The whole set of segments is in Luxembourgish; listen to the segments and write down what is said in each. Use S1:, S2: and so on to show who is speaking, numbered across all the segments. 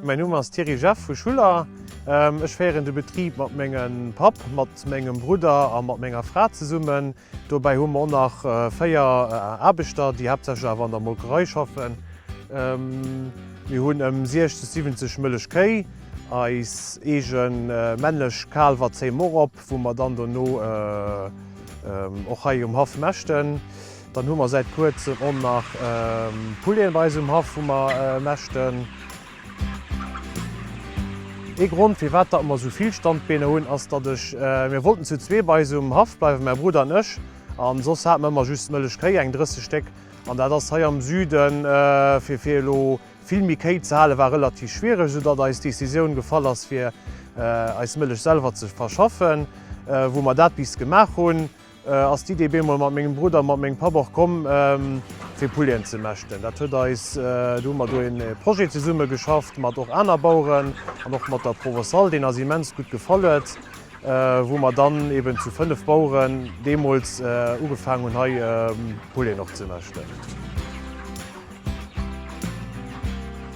S1: Mäin Numm ass Thierry Jeff vu Schuller. Ech féieren de Betrib mat mengem Papp, mat mengem Brudder a mat menger Fra zesummen. Dobäi hu mer och nach 4 Aarbechter, déi haaptsächlech awer an der Molkerei schaffen. Mir hunn ëm 60, 70 Mëllechkéi. Eis eege männlech Kaalwer zéie mer och op. wou mer dann dono och hei um Haff mäschten. Dann hu mer säit kuerzem och nach Pouleten bei eis um Haff, wou mer mäschten. Ee Grond, firwat datt mer esou vill Standbeener hunn, ass, datt ech, mir wollten zu zwee bei eis um Haff bleiwen, mäi Brudder an ech, an soss hate mer ëmmer just Mëllechkéi, eng 30 Stéck, an dat ass hei am Süden, fir elo Vill méi Kéi ze hale war relativ schwiereg, soudatt eis Decisioun gefall ass fir eis Mëllech selwer ze verschaffen. Wou mer dat bis gemaach hunn, ass d'Idee bemol mat mengem Brudder a mat mengem Papp och komm fir Pullien ze mäschten. Dat huet eis, do hu mer do ee Projet zesumme geschafft mat och aner Baueren an och mat der Provençale, deen eis immens gutt gefall huet, wou mer dann eben zu 5 Baueren deemools ugefaang hunn hei Pullien och ze mäschten.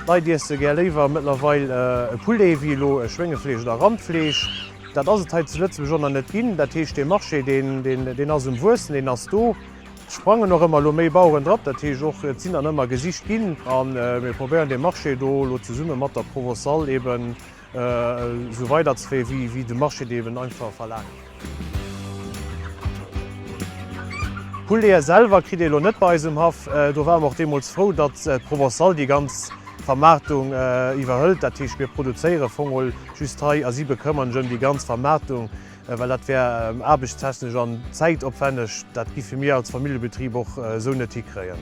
S1: D'Leit iesse gär léiwer mëttlerweil e Poulet wéi elo e Schwéngefleesch oder Randfleesch. Dat ass et hei zu Lëtzebuerg och nach net ginn. Dat heescht, dee Marché, deen ass um Wuessen, deen ass do. Et sprangen och ëmmer elo méi Baueren drop. Dat heescht och, et sinn dann ëmmer gesicht ginn. A mir probéieren dee Marché do elo zesumme mat der Provocal eeben Esou weider ze fréen, wéi de Marché et eben einfach verlaangt. D'Pouleten selwer kritt ee elo net bei eis um Haff. Do ware mer och deemools frou, datt d'Provençale déi ganz Vermaartung iwwerhëlt. Dat heescht, mir produzéiere Vongole just hei a si bekëmmeren sech ëm déi ganz Vermaartung, well dat wär aarbechtstechnesch an zäitopwänneg. Dat giffe mir als Familljebetrib och esou net hikréien.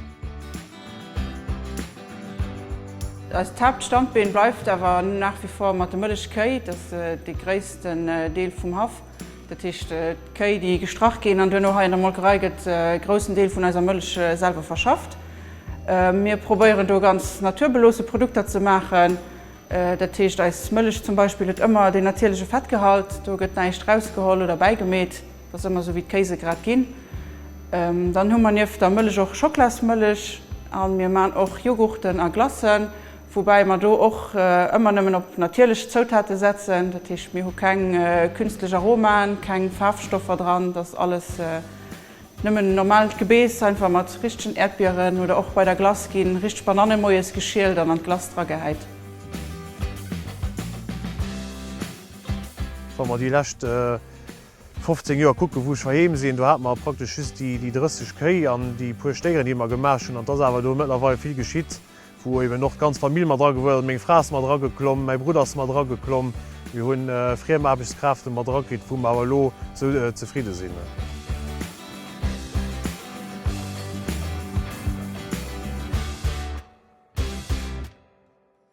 S2: Eist Haaptstandbeen bleift awer nach wie vor mat de mëllech Kéi. Dat ass dee gréissten Deel vum Haff. Dat heescht, d'Kéi déi gestrach ginn an duerno hei an der Molkerei gëtt e groussen Deel vun eiser Mëllech selwer verschafft. Mir probéieren do ganz naturbeloosse Produkter ze maachen. Dat heescht eis Mëllech zum Beispill huet ëmmer deen natierleche Fettgehalt. Do gëtt näischt rausgeholl oder bäigemeet. Wa se ëmmer sou wéi d'Kéisegrad ginn, dann hu mer nieft der Mëllech och Schoklasmëllech a mir man och Joghurten a Glacen, woubäi mer do och ëmmer nëmmen op natierlech Zoutate setzen. Dat heescht, mir hu keng künstlech Aromaen, keng Faarfstoffer dran, dat ass alles nëmmen normaalt Gebeess, einfach mat richtegen Äerdbieren oder och bei der Glace gi richteg Bananne moies geschielt an an d'Glace dragehäit.
S1: Wa mer déi lescht 15 Joer kucken, wou ech heiheem sinn. Do hate mer praktesch just déi 30 Kéi an déi puer Stéieren, déi mer gemaach hunn. An et ass awer do mëttlerweil vill geschitt, wou eben och d'ganz Famill mat agewuess ass. Meng Fra ass mat erageklomm, mäi Brudd ass mat erageklomm. Mir hu friem Aarbechtskräfte mat erakritt, wou mer awer elo esou zefridde sinn.